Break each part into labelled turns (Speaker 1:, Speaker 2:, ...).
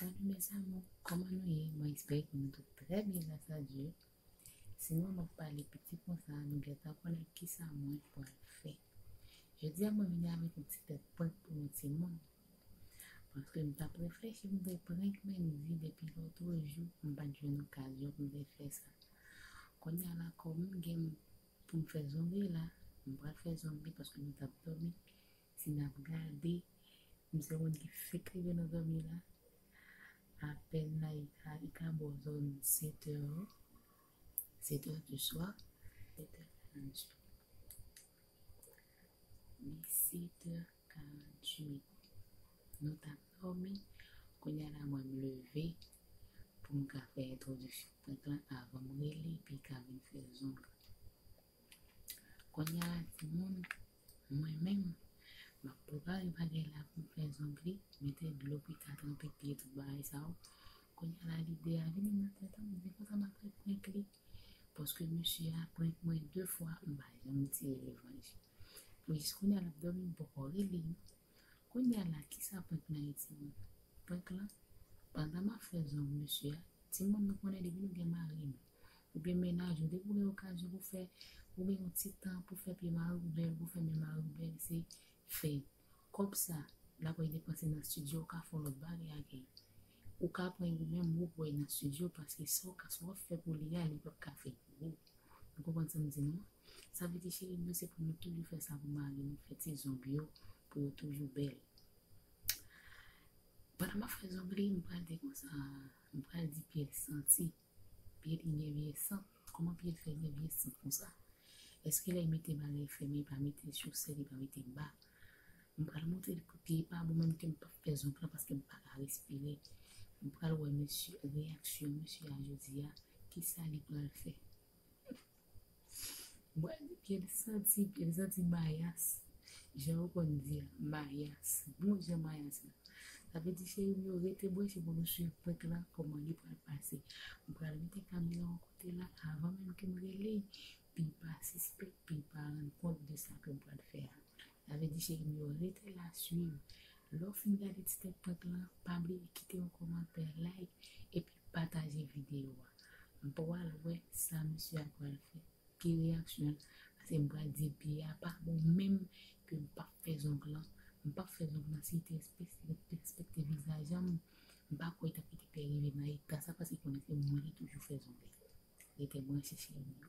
Speaker 1: Salut mes amours kòman nou ye mwen espere ke nou tout trè byen gras a Dye si mwen map pale piti konsa nou gentan konnen kisa mwen pwal fè jodi a mwen vini avèk yon ti tèt prank pou nou ti moun paske m tap reflechi pou m te prank Mendy depi lotro jou m pat jwenn okazyon pou m te fè sa kounya la kòm m gen pou m fè zong li la m pral fè zong li paske nou tap dòmi Si nap gade m se yon moun ki fek rive nan zanmi la apèl la li ka li ka bo zòn 7 è 7 è di swa 7 è 48 li 7 è 48 nou tap dòmi kounya la mwen m leve poum ka fè entwodiksyon prank lan avanm rele epi ka vin fè zòn. Konya la timoun mwen menm map prepare bagay la poum fè zongli mete dlo pika tranpe pye tout bagay sa yo konya la lide a vini nan tèt mwen se konsa map fè prank li paske mesye a prank mwen 2 fwa mpa janm tire revanj pou jis konya lap domi mpoko rele Kounya la kisa prank nan ye timoun? Prank lan, pandan map fè zong mesye a, timoun nou konnen depi nou gen mari nou, oubyen mennaj nou depi ou gen okazyon pou fè, ou gen yon ti tan pou fè pye mariw bèl, pou fè men mariw bèl se fè. Kòb sa, lap al depanse nan studio ou ka fon lòt bagay avèl. Ou ka pran yo menm wou voye nan studio paske sa w ka sa wap fè pou li a li pap ka fè pou wou nou konprann sam di nou an sa vle di cheri m yo se pou nou toujou fè sa pou mari nou fè ti zong yo pou yo toujou bèl pandan map fè zong li m pral di konsa m pral di pyès santi. Pye li gen vye sant. Kòman pye fè gen vye sant konsa? Eske lè mete bagay fèmen li pa mete chosèt li pa mete ba? M pral montre li pou pye pa bon menm kem pap fè zonk lan paskem paka respire m pral wè mesye reyaksyon mesye a jodia kisa li pral fè. Mwen di pye l santi, pye l santi mayas. Jan yo konn di a, mayas. Bon jan mayas la. Sa vle di cheri m yo rete branche pou nou swiv prank la kòman li pral pase. M pral mete kamera yon kote la avan menm ke m rele l pou l pa sispèk, pou l pa rann kont de sa ke m pral fè a. Sa vle di cheri m yo rete la swiv. Lè w fin gade ti tèt prank la, pa bliye kite yon kòmantè, like epi Pataje video a. M pwal wè sa misye a pwal fè. Ki reyaksyon l. Paske m pwal di pye a pa bon menm ke m pap fè zong lan. M pap fè zong lan si te respekte vizaj an. M pa kwè tap kite pye rive nan eta sa paske konnen se mwen ki toujou fè zong li. Rete branche cheri m yo.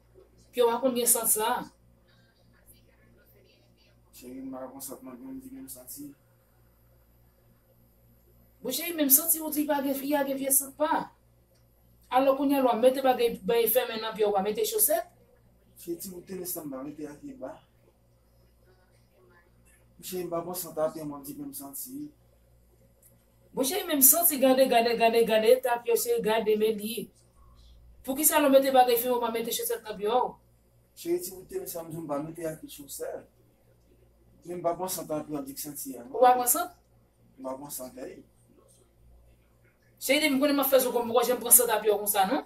Speaker 2: Pyew pa konn gen sant sa.
Speaker 3: Cherim m pa konn sant mwen menm di menm santi.
Speaker 2: Bon cheri menm santi ou di pa gen fi a gen vye sant pa. Alò kounya lwa mete bagay fèmen nan pyew pa mete chosèt. Cheri ti bout
Speaker 3: tenis lan m pa mete a pye ba. Mouche mpa bon san tapyon map di menm santi wi.
Speaker 2: Mouche menm santi gade gade gade gade tapyon cheri gade men li poukisa lèw mete bagay fini ou pa mete chosèt nan pye ou. Cheri ti boutew
Speaker 3: sa mdi ou pa mete ak li chosèt men mpa bon san tapyon di k santi a non. Ou pa bon sant?
Speaker 2: Mpa bon sant
Speaker 3: ey.
Speaker 2: Cheri depi m konnen map fè zo konn poko janm pran san tapyon konsa non.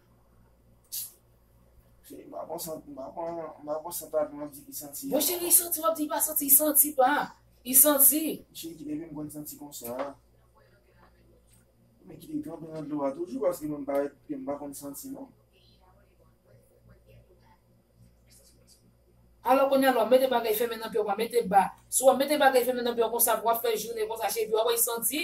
Speaker 3: Bon cheri
Speaker 2: i santi wap
Speaker 3: di i pa santi i santi pa i santi.
Speaker 2: Alò kounye a lè wap mete bagay fèmen nan pyèw pa mete ba si wap mete bagay fèmen nan pyèw konsa pou wap fè jounen konsa cheri wap wè i santi.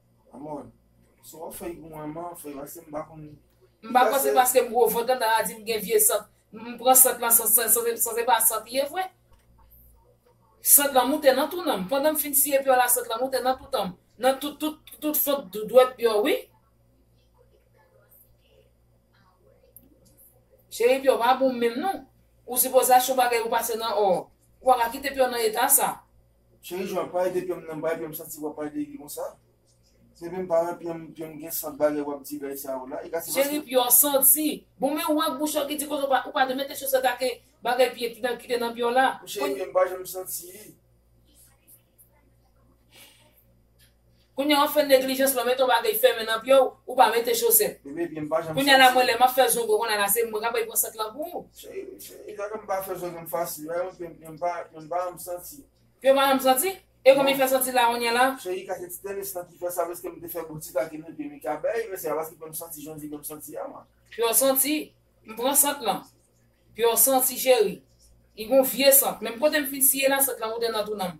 Speaker 3: M pa kwè se paske
Speaker 2: m gwo vant lan ta di m gen vye sant. M pran sant lan san se pa sant li ye vre. Sant lan moute nan tounan m. Pandan m fin siye pyo la sant lan moute nan toutan m. Nan tout fant dwèt pyo wi. Cheri pyo pa bon menm non. Ou sipoze achte yon bagay ou pase nan or. Ou pa ka kite pyo nan eta sa. Cheri jwenn pa
Speaker 3: rete pyem nan bay pyem santi wap pale de Guy konsa Sevem pa wè pyem pyem gen sant bagay wap di lèy sa yo la e ka se paske Cheri pye w
Speaker 2: santi Bon men ou ak bouch ou ki di konsa ou pa de mete chosèt ak bagay pye ki te nan pye w la Cheri pyem pa janm
Speaker 3: santi.
Speaker 2: Kounya wap fè neglijans lò met yon bagay fèmen nan pye w ou pa mete chosèt kounya la
Speaker 3: mwen lè map fè zongo
Speaker 2: konnya la se mwen kap bay pran sant lan pou
Speaker 3: pye w pa janm santi
Speaker 2: e konbyen fè santi la kounya la.
Speaker 3: Pye w santi
Speaker 2: m pran sant lan pye w santi cheri li gon vye sant menm kote m fin siye la sant lan moute nan tou nan m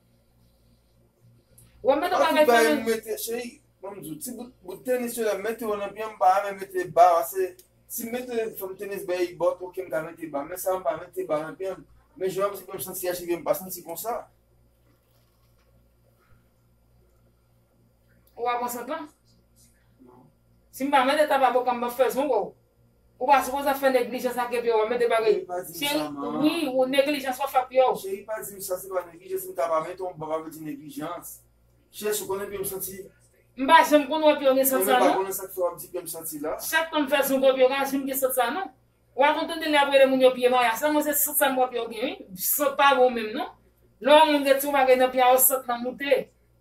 Speaker 2: Wap mete An bagay tout bagay m mete
Speaker 3: cheri Ban m di w ti bout bout tenis yo lè m mete yo nan pye m m pa renmen mete ba pase si m mete fòm tenis bèy li bòt ok m ka mete ba men sa m pa mete ba nan pye m men jan m m santi a cheri m pa santi konsa. Ou pa pran sant lan? Non. Si
Speaker 2: m pa mete taba boka m ban fèzon wè w. Ou pa sipoze fè neglijans ak yo pi wap mete bagay cheri wi ou neglijans wap fè ak yo. Cheri pa dim sa se pa
Speaker 3: neglijans m ta pa mete yon bab avl di neglijans Cheri ou konnen pye m santi. M pa janm konn
Speaker 2: wè pye w gen sant sa non. Mwen pa konnen sak fè wap
Speaker 3: di
Speaker 2: pye m
Speaker 3: santi la. Chak tan m fè zongwen pye w
Speaker 2: ka janm gen sant sa non. Wa konn tande lè ap rele moun yo pye maya sa mwen se sant sa m wè pye w gen wi sant pa bon menm non lè yon moun gen ti yon bagay nan pye a yon sant nan moute.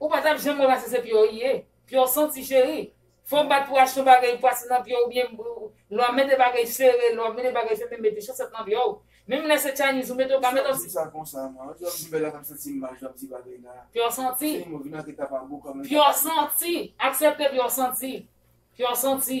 Speaker 2: Ou pa tap janm wè pase se pye w ye. Pye w santi cheri. Fò w bat pou achte yon bagay li pase nan pye w oubyen lè w ap mete bagay sere, lè w ap mete bagay fèmen mete chosèt nan pye w. Menm lè se Chinese ou mete w ka mete yon ti. Sa konsa man. Yon jou w ap jwenn
Speaker 3: bèl la kap santi m mal jou ap di bagay la. Pye w santi. Cheri mwen
Speaker 2: vin antre kapabou kòm. Pye w santi. Aksepte pye w santi. Pye w santi.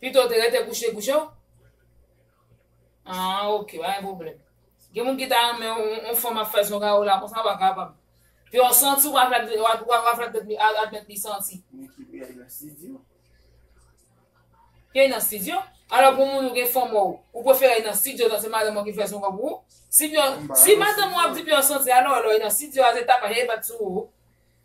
Speaker 3: Pitow te rete kouche
Speaker 2: kouche w. Ahh ok pa gen pwoblèm. Gen moun ki ta renmen yon fanm ap fè zonga yo la konsa pa kapab. Pi w santi w pa fè l wap fè tèt li admèt li santi. Ni ki peye nan studio. Peye nan studio? Alò pou moun ou gen fanm ou, ou prefere li nan studio dan se madanm ou ki fè zonga pou ou? Si madanm ou ap di pi w santi alò lè w nan studio a se tapaj e bat sou ou.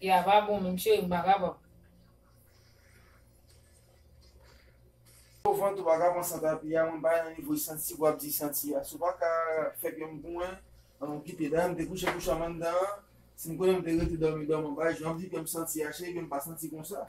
Speaker 3: Te a pa bon menm cheri m pa kapab. Pou vant ou pa ka pran san tapi a mwen bay nan nivo e santi pou ap di santi a si w pa ka fè pye m pou mwen an nou kite dan te kouche kouche anm anndan si m konnen m te rete dòmi dòmi bay jan w ap di pye m santi a cheri pye m pa santi konsa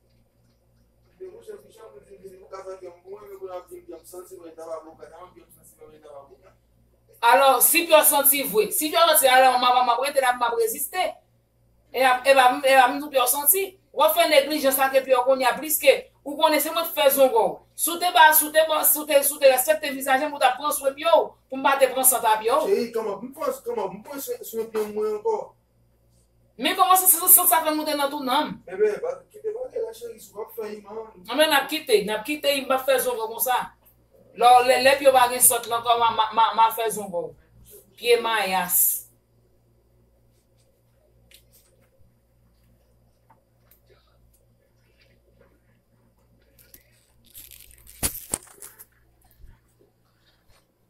Speaker 2: Alò, si pè santi vwe. Si pè santi alò, m ap rete la, m ap reziste. E pa m di w pè santi. W ap fè neglijans ak epi yo kounye a pliske ou konnen se mwen ki fè zongo w. Si w te ba, si w te ba, si w te, si w te respekte vizaje m, ou t ap pran swen pye w pou m pa te pran san pa pye w. Cheri, kòman, m
Speaker 3: pran swen pye mwen ankò. Men
Speaker 2: koman se san sa fè moute nan tou nanm. Enben pa kite vale la cheri si w pap fè
Speaker 3: iman an. Anben nap kite, nap
Speaker 2: kite im pap fè zongo konsa. Lò lè lè pye w pa gen sant lan kòman ma ma fè zongo w. Pye mayas.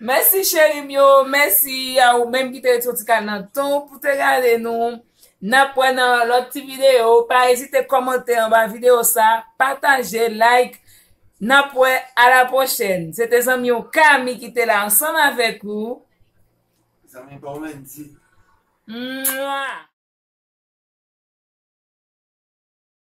Speaker 2: Mèsi cheri m yo, mèsi a ou menm ki te ret yon ti kal nan tan w pou te gade nou. N ap wè nan lòt ti videyo, pa ezite kòmante anba videyo sa, pataje, like. N ap wè a la pwochèn. Se te zanmi w Kami ki te la ansanm avèk ou. Zanmi pa w Wendy. Mwaa.